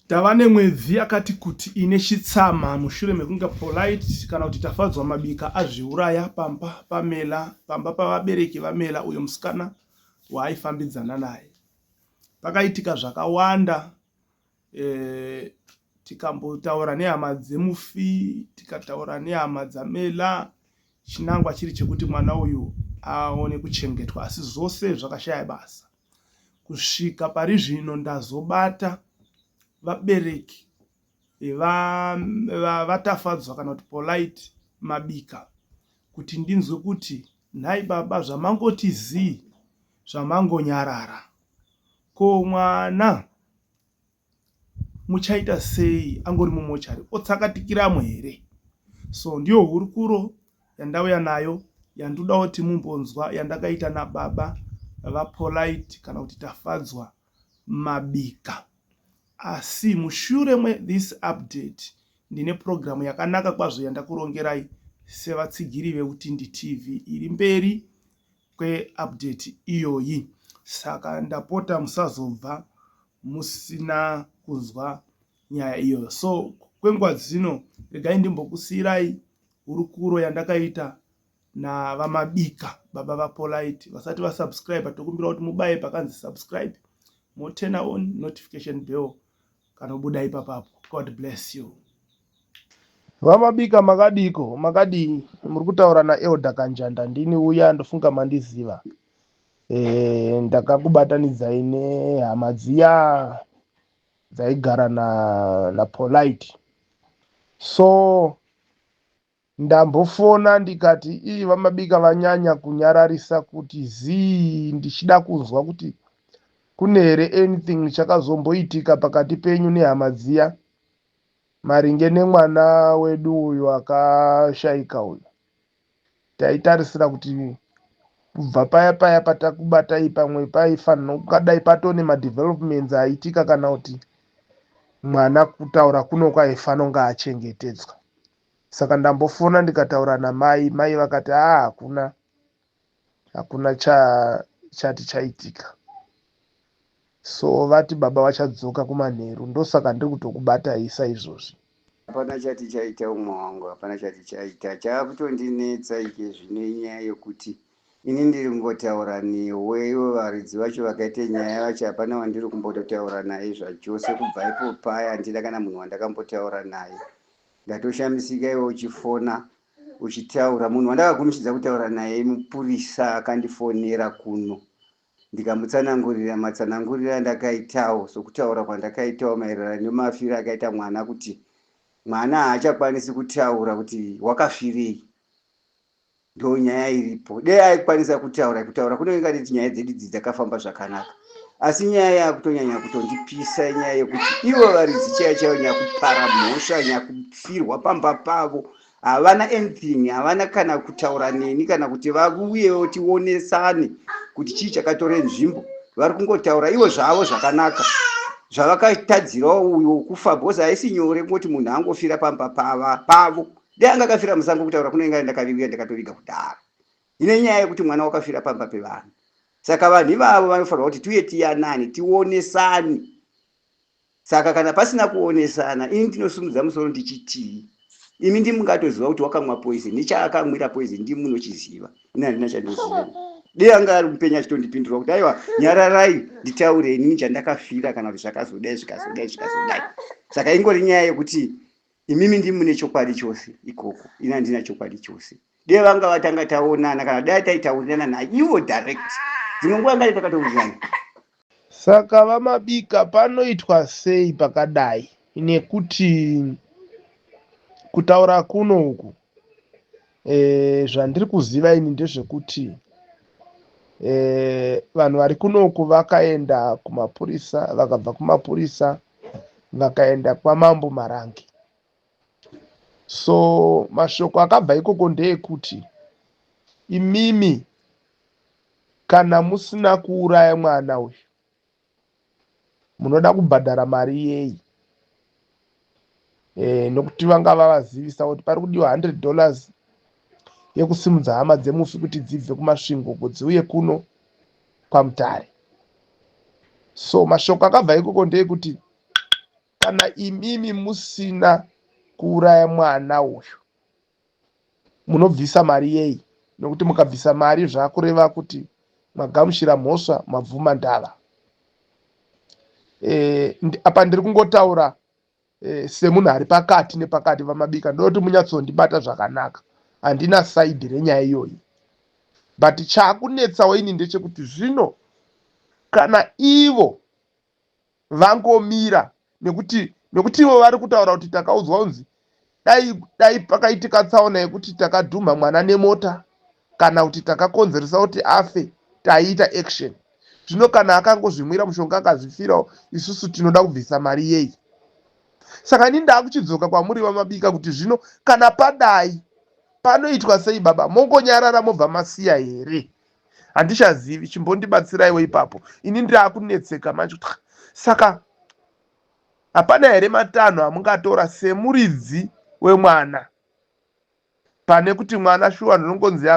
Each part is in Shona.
Tava nemwedzi yakati kuti ine chitsama mushure mekunge Polite kana kuti Tafadzwa Mabika azviuraya pamba paMela, pamba pavabereki vaMela uyo musikana waaifambidzana naye. Pakaitika zvakawanda eh, tikambotaura nehama dzemufi tikataura nehama dzamela chinangwa chiri chekuti mwana uyu aone kuchengetwa asi zvose zvakashaya basa Kusvika pari zvino ndazobata vabereki vaTafadzwa kana kuti Polite Mabika kuti ndinzwe kuti nhai baba zvamangoti zii zvamangonyarara ko mwana muchaita sei angori mumochari otsakatikiramo here so ndiyo hurukuro yandauya nayo yandoda kuti mumbonzwa yandakaita nababa vapolite kana kuti tafadzwa mabika asi mushure methis update ndine purogiramu yakanaka kwazvo yandakurongerai sevatsigiri veutindi tv iri mberi kweupdate iyoyi saka ndapota musazobva musina kunzwa nyaya iyoyo so kwenguva dzino regai ndimbokusiyirai hurukuro yandakaita navamabika baba vapolite vasati vasubscribe tokumbira kuti mubaye pakanzi subscribe motena on notification bell kanobuda ipapapo god bless you vamabika makadiko makadii muri kutaura naelder kanjanda ndini uya ndofunga mandiziva e, ndakakubatanidzai nehama dziya dzaigara na, na polite so Ndambofona ndikati ii vamabika vanyanya kunyararisa kuti zii ndichida kunzwa kuti kune here anything chakazomboitika pakati penyu nehama dziya maringe nemwana wedu uyu akashaika uyu. Taitarisira kuti kubva paya paya patakubatai pamwe paifanira kungadai patone madevelopments aitika kana kuti mwana kutaura kuno kwaifanonga achengetedzwa. Saka ndambofona ndikataura namai mai vakati haa hakuna hakuna cha chati chaitika so vati baba vachadzoka kumanheru ndosaka ndiri kutokubatai saizvozvi hapana chati chaita umwe wangu hapana chati chaita chaakutondinetsa ike zvino inyaya yokuti ini ndiri kungotaura newe ivo varidzi vacho vakaita nyaya vacho hapana wandiri kumbototaura naye zvachose kubva ipo paya handina kana munhu wandakambotaura naye Ndatoshamisika iwe uchifona uchitaura. Munhu wandakagumichidza kutaura naye mupurisa akandifonera kuno ndikamutsanangurira matsanangurira andakaitawo sokutaura kwandakaitawo maererano nemafiro akaita mwana kuti mwana haachakwanisi kutaura kuti wakafirei. ndo nyaya iripo dei aikwanisa kutaura kutaura kunenge kati nyaya dzedu idzi dzakafamba zvakanaka asi nyaya yakutonyanya kutondipisa nyaya yekuti ivo varidzi chaiyo chaiyo nyakupara mhosva nyakufirwa pamba pavo havana anything havana kana kutaura neni kana kuti vakuuyewo tionesane kuti chii chakatore nzvimbo vari kungotaura ivo zvavo zvakanaka zvavakatadzirawo uyo kufa bcause haisi nyore kungoti munhu angofira pamba pava pavo dai anga akafira musango kutaura kune inga ndakaviuya ndakatoviga kudhara ine nyaya yekuti mwana wakafira pamba pevanhu saka vanhu ivavo vanofanirwa kuti tiuye tiyanani tionesani saka kana pasina kuonesana ini ndinosumudza musoro ndichitii imi ndimungatoziva kuti wakamwa poison nechaakamwira poison ndi munochiziva ini handina chandoziva dei anga ari mupenya achitondipindura kuti aiwa nyararai nditaure inini chandakafira kana kuti zvakazodai zvikazodai zvikazodai saka ingori nyaya yekuti Imimi ndimi mune chokwadi chose ikoko, ini handina chokwadi chose. Dai vanga vatanga taonana kana dai taitaurirana naivo direct. Dzimwe nguva ngai takatoudzana. Saka vaMabika panoitwa sei pakadai nekuti kutaura kuno uku e, zvandiri kuziva ini ndezvekuti e, vanhu vari kunoku vakaenda kumapurisa vakabva kumapurisa vakaenda kwamambo marangi so mashoko akabva ikoko ndeekuti imimi kana musina kuuraya mwana uyu munoda kubhadhara mari yeyi e, nokuti vanga vavazivisa kuti pari kudiwa 100 dollars yekusimudza hama dzemufi kuti dzibve kumasvingo uko dziuye kuno kwamutare so mashoko akabva ikoko ndeyekuti kana imimi musina kuuraya mwana uyu munobvisa mari yei nokuti mukabvisa mari zvakureva kuti magamushira mhosva mabvuma ndava eh, apa ndiri kungotaura eh, semunhu ari pakati nepakati vamabika ndoda kuti munyatsondibata zvakanaka handina saidi renyaya iyoyi but chakunetsawo ini ndechekuti zvino kana ivo vangomira nekuti nekuti ivo vari kutaura kuti takaudzwa kunzi dai dai pakaitika tsaona yekuti takadhumha mwana nemota kana kuti takakonzeresa kuti afe taiita action zvino kana akangozvimwira mushonga akazvifirawo isusu tinoda kubvisa mari yei saka ini ndaakuchidzoka kwamuri vamabika kuti zvino kana padai panoitwa sei baba mongonyarara mobva masiya here handichazivi chimbondibatsiraiwo ipapo ini ndaakunetseka manje kuti saka hapana here matanho amungatora semuridzi wemwana pane kuti mwana shuwa ndinongonzi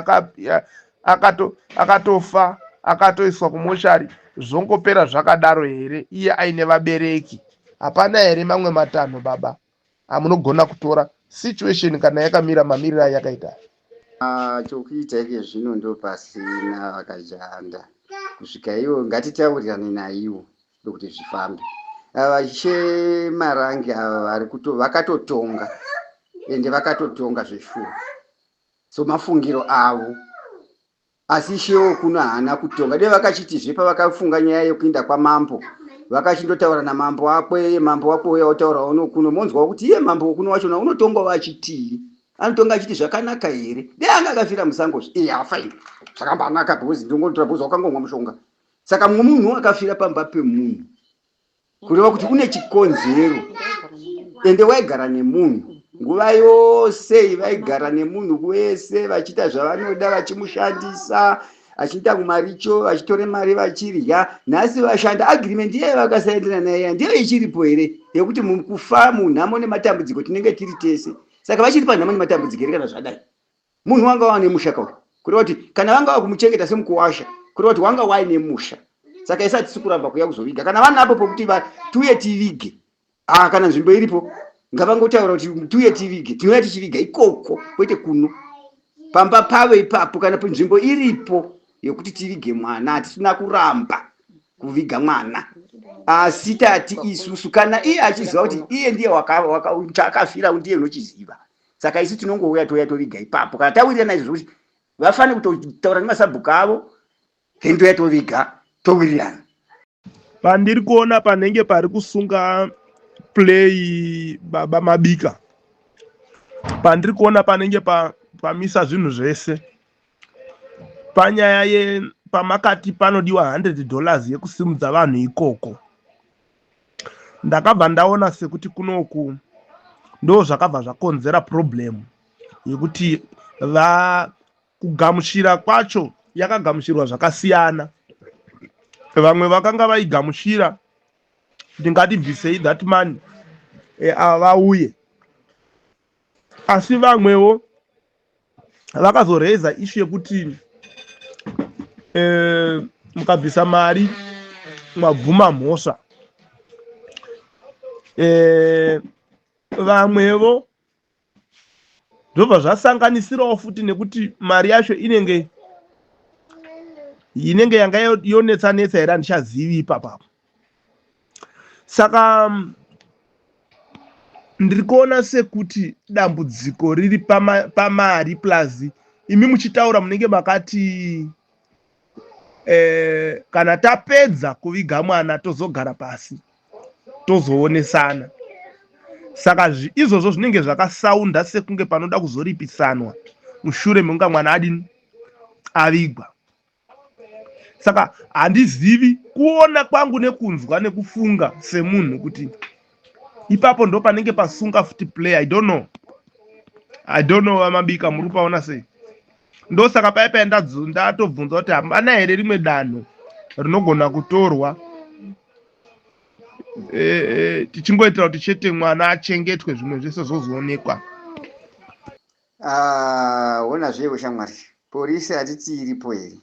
akatofa akatoiswa kumoshari zvongopera zvakadaro here iye aine vabereki hapana here mamwe matanho baba Ah, munogona kutora situation kana yakamira mamiriro ayakaita aya. Ah, chokuita ike zvino ndopasina vakajanda kusvika ivo ngatitaurirane naivo ndokuti zvifambe ava che marange ava vari kuto vakatotonga ende vakatotonga zveshuwa so mafungiro avo Asi ishe wokuno haana kutonga. Dai vakachitizve pavakafunga nyaya yekuinda kwamambo vakachindotaura namambo wako eye mambo wako uya wotaurawo nokuno monzwawo kuti iye mambo wokuno wachona unotongawo achitii anotonga achiti zvakanaka here dai anga akafira musango zve iye afaini zvakambanaka because ndongonotora because wakangomwa mushonga saka mumwe munhu akafira pamba pemunhu kureva kuti une chikonzero ende waigara nemunhu nguva yose iyi vaigara nemunhu wese vachiita zvavanoda vachimushandisa achiita kumaricho vachitore mari vachirya nhasi vashanda agreement iye vakasaenderana naye ya ndiyo ichiripo here yekuti kufa munhamo nematambudziko tinenge tiri tese saka vachiri panhamo nematambudziko here kana zvadai munhu wanga wava nemusha kauri kureva kuti kana vanga vava kumuchengeta semukuwasha kureva kuti wanga wai nemusha saka isi hatisi kuramba kuya kuzoviga kana vanapo pokuti tiuye tivige ah, kana nzvimbo iripo ngavangotaura kuti tiuye tivige tinouya tichiviga ikoko kwete kuno pamba pavo ipapo kana nzvimbo iripo yekuti tivige mwana hatisina kuramba kuviga mwana asi tati isusu kana iye achiziva kuti iye ndiye chaakafira ndiye unochiziva waka, saka isu tinongouya touya toviga ipapo kana tawirirana izvo zvokuti vafane kutotaura nemasabhuku avo then touya toviga towirirana pandiri kuona panenge pari kusunga play baba mabika pandiri kuona panenge pa, pamisa zvinhu zvese panyaya ye pamakati panodiwa 100 dollars yekusimudza vanhu ikoko ndakabva ndaona sekuti kunoku ndo zvakabva zvakonzera problem yekuti va kugamuchira kwacho yakagamuchirwa zvakasiyana vamwe vakanga vaigamuchira ndingatibvisei that man e, vauye asi vamwewo vakazoraiza ishu yekuti eh, mukabvisa mari mwabvuma mhosva eh, vamwevo zvobva zvasanganisirawo futi nekuti mari yacho inenge inenge yanga yonetsa netsa here handichazivi ipapapo saka mm, ndiri kuona sekuti dambudziko riri pama- pamari plus imi muchitaura munenge makati eh, kana tapedza kuviga mwana tozogara pasi tozoonesana saka zvi- izvozvo zvinenge zvakasaunda sekunge panoda kuzoripisanwa mushure mekunga mwana adini avigwa saka handizivi kuona kwangu nekunzwa nekufunga semunhu kuti ipapo ndo panenge pasunga futi play i don't know i don't know vamabika muri kupaona sei ndosaka paye paye ndatobvunza kuti hapana here rimwe danho rinogona kutorwa e, e, tichingoitira kuti chete mwana achengetwe zvimwe zvese zvozoonekwa Ah, hona zvewe shamwari porisi hatiti iripo here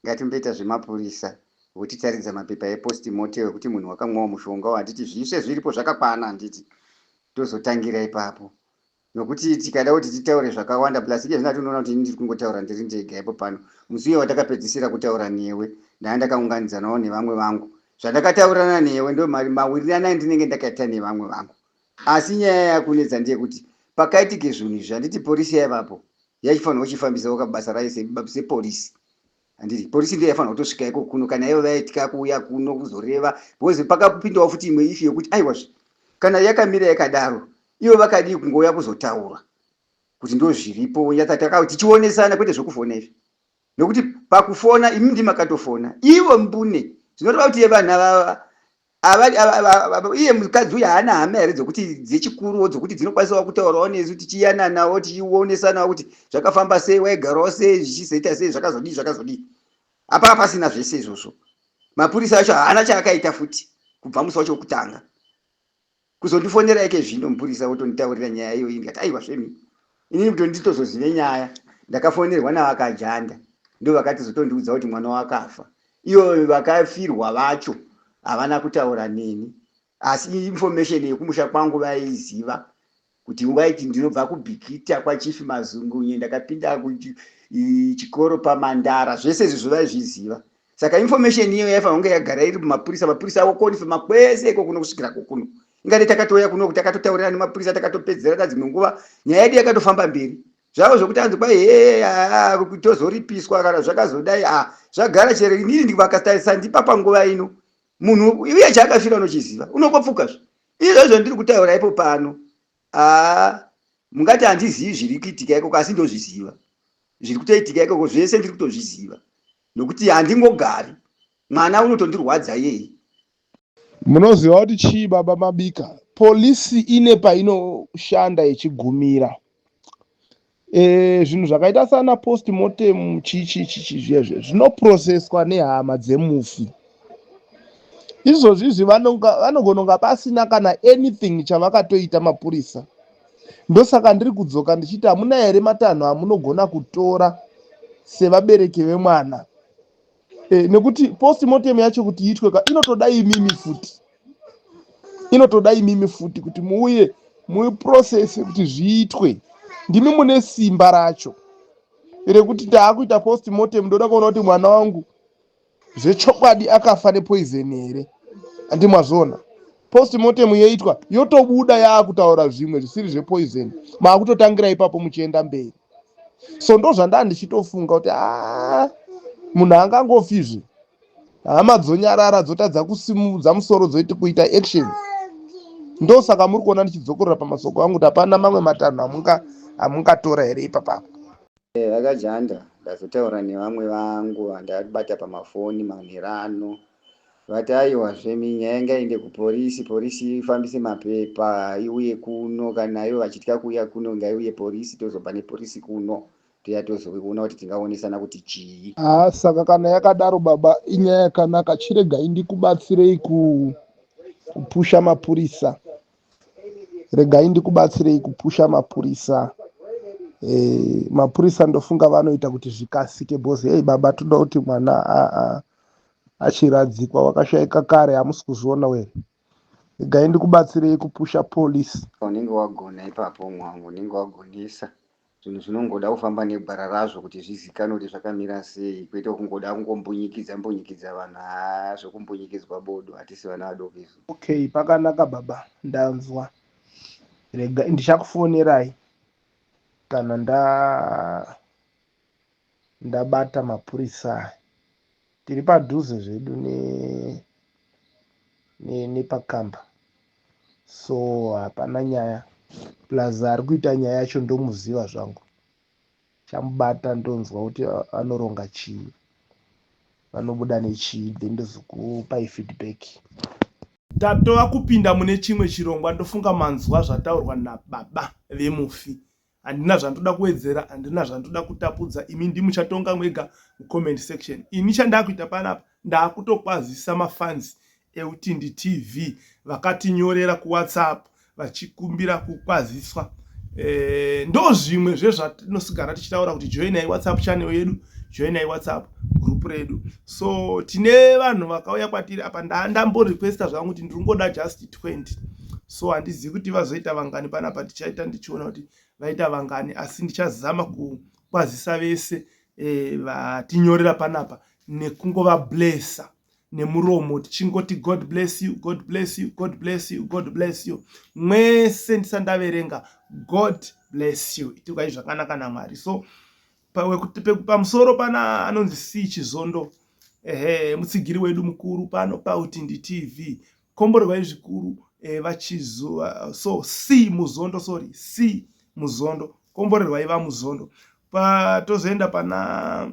ngatimboita zvemapurisa votitaridza mapepa epost mortem ekuti munhu wakamwawo mushonga handiti zvise zviripo zvakakwana handiti tozotangira ipapo nokuti tikada kuti titaure zvakawanda plus iye zvina tinoona kuti ini ndiri kungotaura ndiri ndega ipo pano musi uye watakapedzisira kutaura newe ndanga ndakaunganidzanawo nevamwe vangu zvandakataurirana newe ndo mawirirano andinenge ndakaita nevamwe vangu Asi nyaya yakunetsa ndeyekuti pakaitike zvinhu izvi handiti porisi yaivapo yaifanirwa kuchifambisawo kabasa rayo seporisi handiti porisi ndiyo yaifanirwa kutosvika iko kuno kana ivo vaitya kuuya kuno kuzoreva because pakapindawo futi imwe ifi yekuti aiwazve kana yakamira yakadaro ivo vakadii kungouya kuzotaura kuti ndo zviripo nyatsatakao tichionesana kwete zvekufona izvi nokuti pakufona imi ndimakatofona ivo mbune zvinoreva kuti yevana vava iye mukadzi uyu haana hama here dzokuti dzechikuruwo dzokuti dzinokwanisawo kutaurawo nesu tichiyananawo tichionesanawo kuti zvakafamba sei waigarawo sei zvichizoita sei zvakazodii zvakazodii apaa pasina zvese izvozvo mapurisa acho haana chaakaita futi kubva musi wacho wekutanga Kuzondifonera ikezvino mupurisa otonditaurira nyaya iyoyi ndikati aiwa zvemi inini kuti nditozozive nyaya ndakafonerwa navakajanda ndovakatizotondiudza kuti mwana wakafa iyo vakafirwa vacho havana kutaura neni asi information yekumusha kwangu vaiziva kuti ungaiti ndinobva kubhikita kwachief mazungunye ndakapinda kuchikoro pamandara zvese izvozvo vaizviziva saka information iyo yaifanira kunge yagara iri mumapurisa mapurisa aokonfirma kwese iko kuno kusvikira kokuno ingati takatouya kuno takatotaurirana nemapurisa takatopedzerana dzimwe nguva nyaya yedu yakatofamba mberi zvavo zvokuti anzi kwai hee ah, ah, tozoripiswa kana zvakazodai a ah, zvagara chero inini ndivakatarisa ndipa panguva ino munhu uye chaakafira unochiziva unokopfuka zve Izvozvo ndiri kutaura ipo pano, aa, mungati handizivi zviri kuitika ikoko, asi ndozviziva zviri kutoitika ikoko, zvese ndiri kutozviziva, nokuti handingogari. Mwana unotondirwadza iyeye. Munoziva kuti chii, Baba Mabika? Polisi ine painoshanda yechigumira. Eh, zvinhu e, zvakaita sana post mortem chichichichi zviya zviya zvinoprocesswa nehama dzemufi izvozvi izvi vanogona kunga pasina kana anything chavakatoita mapurisa ndosaka ndiri kudzoka ndichiti hamuna here matanho amunogona kutora sevabereki vemwana eh, nekuti postmortem yacho kuti iitwe ka inotoda imimi futi inotoda imimi futi kuti muuye muprocess kuti zviitwe ndimi mune simba racho rekuti taakuita postmortem ndoda kuona kuti mwana wangu zvechokwadi akafa nepoison here andi mwazviona postmortem yoitwa yotobuda yaakutaura zvimwe zvisiri zvepoison maakutotangira ipapo muchienda mberi so ndozvandaa ndichitofunga kuti haa munhu angangofizve hama dzonyarara dzotadza kusimudza musoro dzoiti kuita action ndosaka muri kuona ndichidzokorora pamasoko angu kuti hapana mamwe matanho amunga amungatora here ipapapo eh, vakajanda ndazotaura nevamwe vangu vandabata pamafoni manherano Vati aiwa zvemi nyaya ngaende kupolice police ifambise mapepa iuye kuno kana ivo vachitya kuuya kuno ngaiuye police tozobva nepolice kuno touya tozoona kuti tingaonesana kuti chii. Haa saka kana yakadaro baba inyaya yakanaka chiregai ndikubatsirei ku kupusha mapurisa regai ndikubatsirei kupusha mapurisa eh, mapurisa ndofunga vanoita kuti zvikasike bhozi hei baba toda kuti mwana achiradzikwa wakashaika kare hamusi kuzviona were igai ndikubatsirei kupusha police unenge wagona ipapo mwangu unenge wagonesa zvinhu zvinongoda kufamba negwara razvo kuti zvizikanwe kuti zvakamira sei kwete kungoda kungombunyikidza mbunyikidza vanhu haa zvekumbunyikidzwa bodo hatisi vana vadoko izvo okay pakanaka baba ndanzwa rega ndichakufonerai kana nda ndabata mapurisa aya tiri padhuze zvedu ne nepakamba so hapana nyaya plus ari kuita nyaya yacho ndomuziva zvangu chamubata ndonzwa kuti anoronga chii vanobuda nechii then ndozokupai feedback tatova kupinda mune chimwe chirongwa ndofunga manzwa zvataurwa nababa vemufi handina zvandoda kuwedzera handina zvandoda kutapudza imi ndimuchatonga mwega mucomment section ini chandakuita panapa ndakutokwazisa mafans eutindi tv vakatinyorera kuwhatsapp vachikumbira kukwaziswa e, ndo zvimwe zvezvatinosigara tichitaura kuti joinai whatsapp channel yedu joinai whatsapp group redu so tine vanhu vakauya kwatiri apa ndandamborequesta zvangu kuti ndiri kungoda just 20 so handizivi kuti vazoita vangani panapa tichaita ndichiona kuti vaita vangani asi ndichazama kukwazisa vese e, vatinyorera panapa nekungova blessa nemuromo tichingoti god bless you god bless you god bless you god bless you mwese ndisandaverenga god bless you itikai zvakanaka namwari so pamusoro pana anonzi c chizondo ehe mutsigiri wedu mukuru pano pautindi tv komborwai zvikuru eh, vachizuva so c muzondo sorry c muzondo komborerwai vamuzondo patozoenda pana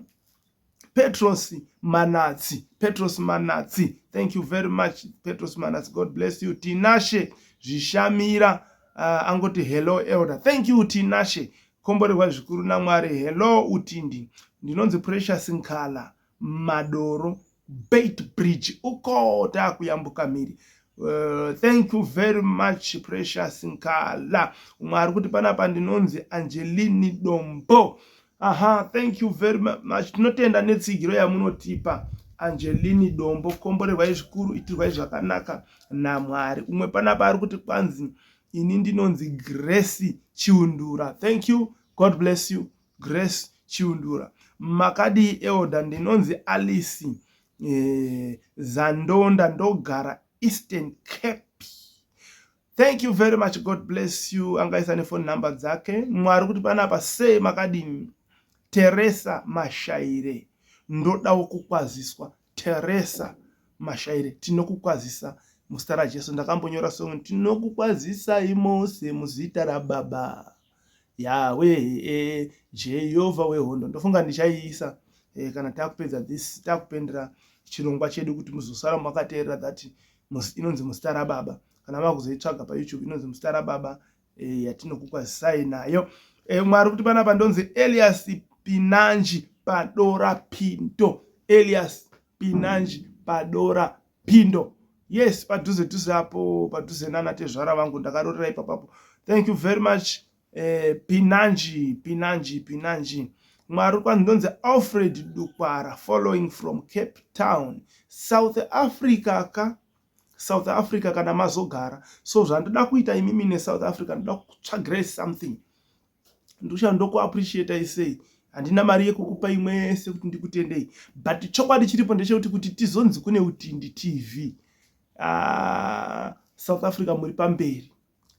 petros manatsi petros manatsi thank you very much petros manatsi god bless you tinashe zvishamira uh, angoti hello elder thank you tinashe Komborerwa zvikuru naMwari. Hello Utindi. Ndinonzi Precious Nkala Madoro Bait Bridge. Uko takuyambuka mhiri. Uh, thank you very much Precious Nkala. Umwe ari kuti panapa ndinonzi Angelini Dombo. Aha, thank you very much. Tinotenda netsigiro yamunotipa. Angelini Dombo, komborerwai zvikuru, itirwai zvakanaka naMwari. Umwe panapa ari kuti kwanzi ini ndinonzi grace chiundura thank you god bless you grace chiundura makadii elda ndinonzi alice eh, zandonda ndogara eastern cape thank you very much god bless you angaisa nefoni number dzake mwari kuti panapa sei makadini teresa mashaire ndodawo kukwaziswa Teresa Mashaire tinokukwazisa muzita raJesu. Ndakambonyora song tinokukwazisai mose muzita raBaba Yawe eh, Jehovha wehondo. Ndofunga ndichaiisa eh, kana takupedza this takupendera chirongwa chedu kuti muzosara makateerera that inonzi muzita raBaba kana makuzoitsvaga paYouTube inonzi muzita raBaba eh, yatinokukwazisai nayo eh, umwe ari kuti panapa ndonzi elias pinanji padora pindo elias pinanji padora pindo yes padhuze dhuze apo padhuze nana tezvara vangu ndakarorera ipapapo thank you very much eh, pinanji pinanji pinanji mwari kwanzi ndonzi alfred dukwara following from cape town south africa ka south africa kana mazogara so zvandoda kuita imimi nesouth africa ndoda kutsvagirai something ndikushana ndokuappreciatai sei handina mari yekukupa imwe yese kuti ndikutendei but chokwadi chiripo ndechekuti kuti tizonzi kune utindi tv ah, south africa muri pamberi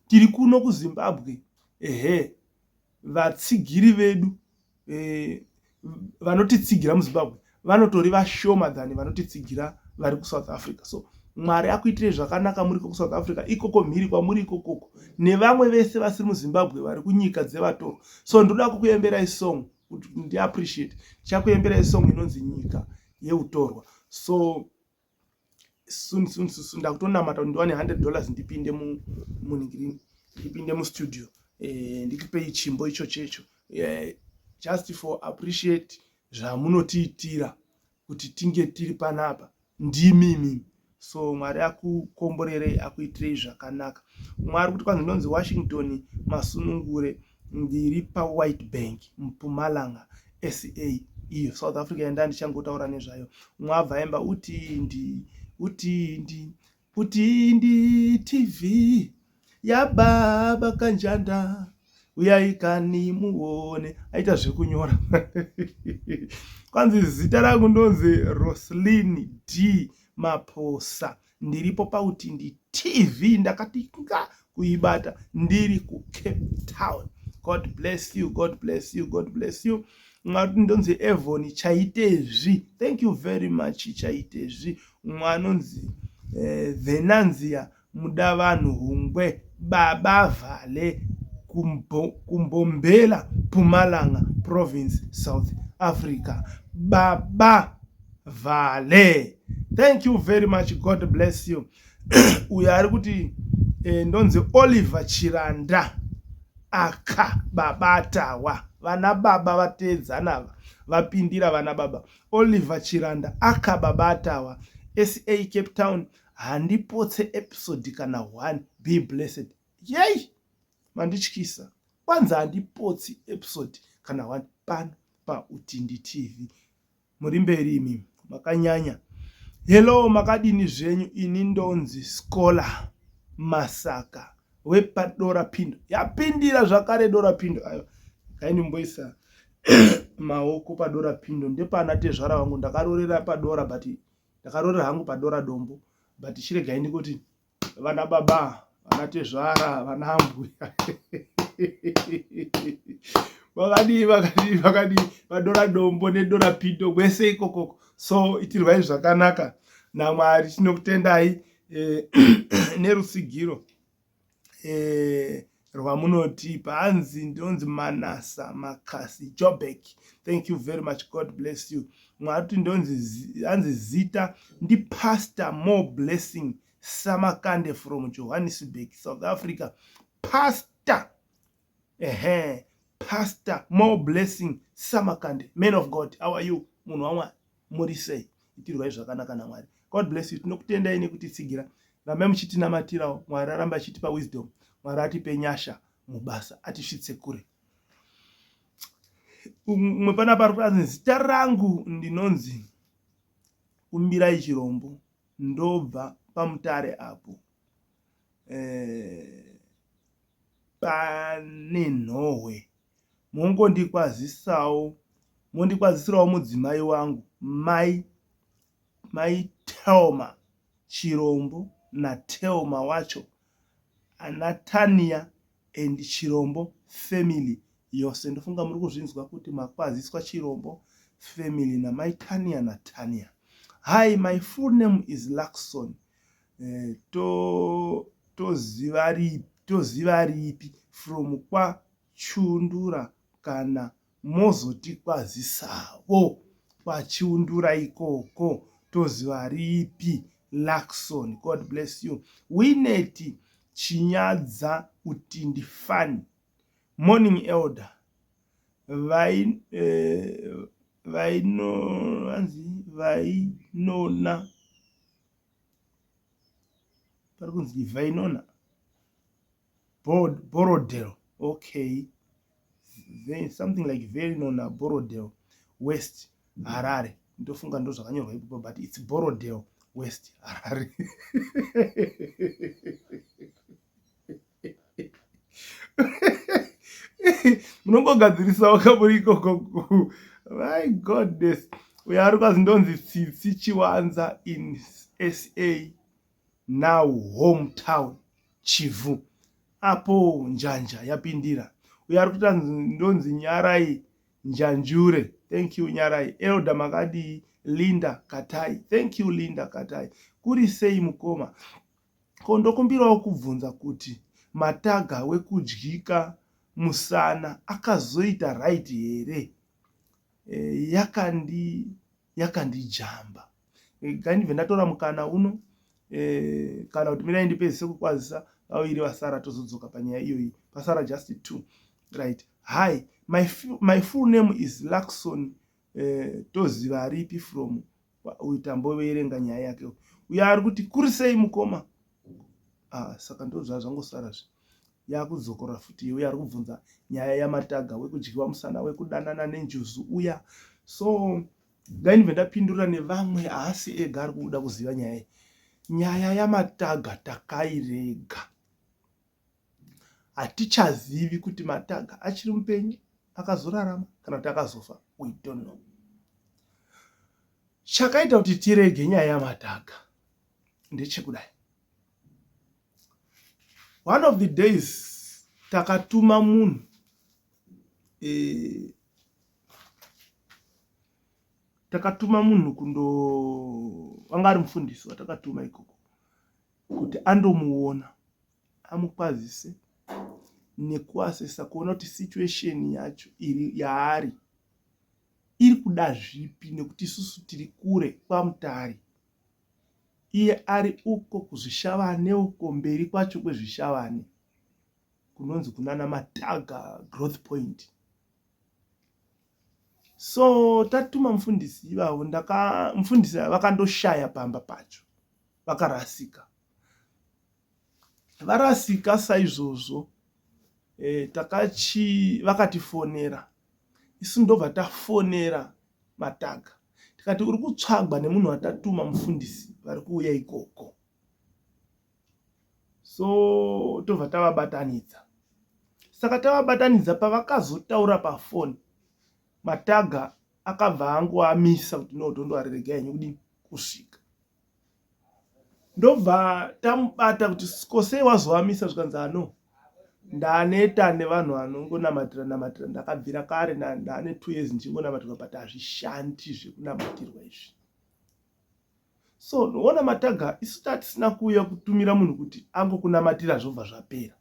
tiri kuno kuzimbabwe ehe vatsigiri vedu eh, vanotitsigira muzimbabwe vanotori vashoma than vanotitsigira vari kusouth africa so mwari akuitirei zvakanaka muriko kusouth africa ikoko mhiri kwamuri ikokoko nevamwe vese vasiri muzimbabwe vari kunyika dzevatoro so ndoda kukuemberai song kuti ndiappreciate ndichakuemberai song inonzi nyika yeutorwa so soon soon soon ndakutonamata kuti ndiwane 100 dollars ndipinde munigirini ndipinde mustudio eh, ndikupei chimbo icho checho eh, just for appreciate zvamunotiitira kuti tinge tiri panapa ndimimi so mwari akukomborerei akuitirei zvakanaka mwari kuti kwanzi ndonzi washington masunungure ndiri pawhite bank mpumalanga sa iyo south africa yandaa ndichangotaura nezvayo umwe abva aimba utindi utindi utindi tv yababa kanjanda uyaikani muone aita zvekunyora kwanzi zita rangu ndonzi roslin d maposa ndiripo pautindi tv ndakati nga kuibata ndiri kucape town god bless you god bless you god bless you mwari ndonzi evoni chaitezvi thank you very much chaitezvi umwe anonzi eh, venanzia muda vanhu hungwe baba vhale kumbombela pumalanga province south africa baba vale thank you very much god bless you uyo ari kuti eh, ndonzi oliver chiranda aka babatawa vana baba vateedzana ava vapindira vana baba oliver chiranda aka babatawa sa cape town handipotse episode kana one be blessed yei mandityisa kwanzi handipotsi episode kana one pano pautindi tv muri mberi imi makanyanya hello makadini zvenyu ini ndonzi scholar masaka wepadora pindo yapindira zvakare dora pindo ayo kaindimboisa maoko padora pindo ndepana tezvara vangu ndakarorera padora but ndakarorera hangu padora dombo but chiregai ndikuti vana baba vana tezvara vana mbuya vakadii vakadii vakadii vadora dombo nedora pido kwese ikokoko so itirwai zvakanaka namwari tinokutendai eh, nerusigiro eh, rwamunotipa hanzi ndonzi manasa makasi jobek thank you very much god bless you mwari kuti ndonzi hanzi zita ndipastor more blessing samakande from johannesburg south africa pastor ehe pastor more blessing samakande man of god how are you munhu wamwari muri sei itirwai zvakanaka namwari god bless you tinokutendai nekutitsigira rambai muchitinamatirawo mwari aramba achitipa wisdom mwari atipe nyasha mubasa atisvitse kure umwe pana pari kuranzi zita rangu ndinonzi kumbirai chirombo ndobva pamutare apo eh, pane nhohwe mongondikwazisawo mondikwazisirawo mudzimai wangu mai mai telma chirombo natelma wacho anatania and chirombo family yose ndofunga muri kuzvinzwa kuti makwaziswa chirombo family namai tania natania hi my full name is luxon eh, toziva to ripi from kwa Chiundura kana mozotikwazisavo kwaChiundura ikoko toziva ripi Luckson God bless you Winnet Chinyadza Utindi Fan Morning Elder Vainona pari kunzi Vainona Borrowdale okay something like very known now Borrowdale West Harare ndofunga ndozvakanyorwa ipapo but it's Borrowdale West Harare munongogadzirisawo kamuri ikoko my goodness uyo ari kwazi ndonzi tsitsi chiwanza in sa now home town Chivhu apo njanja yapindira uyo ari kuita ndonzi Nyarai Njanjure thank you Nyarai Elder makadii Linda Katai thank you Linda Katai kuri sei mukoma ko ndokumbirawo kubvunza kuti mataga wekudyika musana akazoita right here e, yakandi yakandijamba ngaindive ndatora mukana uno eh, kana kuti mirai ndipedzise kukwazisa vaviri vasara tozodzoka panyaya iyoyi pasara just two right hi my, my full name is luxon eh, toziva aripi from uyu tamboveerenga nyaya yake uyo ari kuti kuri sei mukoma ah, saka ndozvaa zvangosara zve yakudzokora futi uya ari kubvunza nyaya yamataga wekudyiwa musana wekudanana nenjuzu uya so ndainve ndapindura nevamwe haasi ega ari kuda kuziva nyaya iyi nyaya yamataga takairega hatichazivi kuti mataga achiri mupenyu akazorarama kana kuti akazofa we don't know chakaita kuti tirege nyaya yamataga ndechekudai one of the days takatuma munhu eh, takatuma munhu kundo wanga ari mufundisi watakatuma ikoko kuti andomuona amukwazise nekuasesa kuona kuti situation yacho iri yaari iri kuda zvipi nekuti isusu tiri kure kwamutari iye ari uko kuzvishavane uko mberi kwacho kwezvishavane kunonzi kunana mataga growth point so tatuma mufundisi ivavo mufundisi vakandoshaya pamba pacho vakarasika varasika saizvozvo e, takachi vakatifonera isu ndobva tafonera mataga tikati uri kutsvagwa nemunhu watatuma mufundisi vari kuuya ikoko so tobva tavabatanidza saka tavabatanidza pavakazotaura pafoni mataga akabva angoamisa kuti no tondoariregai nekuti kusvika ndobva tamubata kuti kosei wazovamisa zvikanzi ano ndaneta nevanhu vanongonamatira namatira ndakabvira kare ndane two years ndichingonamatirwa but hazvishandi zvekunamatirwa izvi so noona mataga isu tatisina kuuya kutumira munhu kuti angokunamatira zvobva zvapera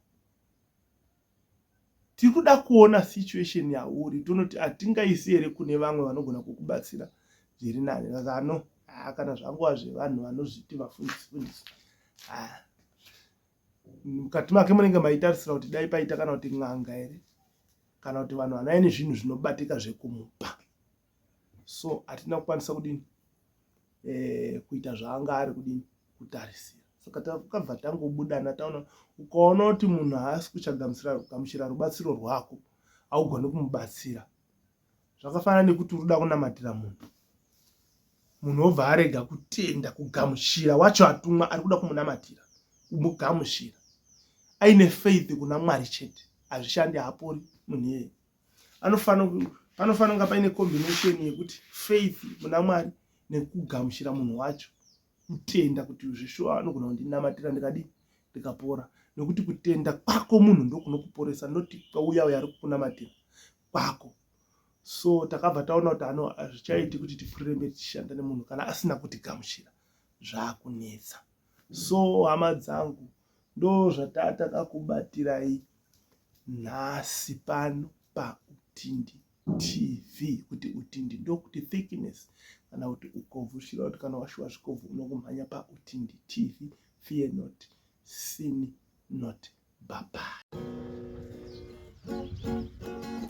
tiri kuda kuona situation yauri tonoti hatingaisi here kune vamwe vanogona kukubatsira zviri nani zano haa kana zvangova zvevanhu vanozviti vafundisi fundisi haa mukati make munenge maitarisira kuti dai paita kana kuti n'anga here kana kuti vanhu vanaye nezvinhu zvinobatika zvekumupa so hatina kukwanisa kudini eh, kuita zvaanga ari kudini kutarisira saka takabva tangobudana taona ukaona kuti munhu haasi kuchagamuchira rubatsiro rwako haugone kumubatsira zvakafanana nekuti uruda kunamatira munhu munhu obva arega kutenda kugamuchira wacho atumwa ari kuda kumunamatira kumugamuchira aine faith kuna mwari chete hazvishandi haapori munhu iyeye anofanira panofanira kunga paine combination yekuti faith muna mwari nekugamuchira munhu wacho kutenda kuti zveshuwa anogona kundinamatira ndikadii ndikapora nekuti kutenda kwako munhu ndokunokuporesa noti kwauya uya ari kukunamatira kwako so takabva taona kuti ano hazvichaiti kuti tipfuurire mberi tichishanda nemunhu kana asina kutigamuchira zvakunetsa so hama dzangu ndozvatatakakubatirayi nhasi pano pautindi tv kuti utindi ndokuti thickness kana kuti ukobvu zvichireva kuti kana washuwa zvikobvu unokumhanya pautindi tv fear not sin not babai Thank you.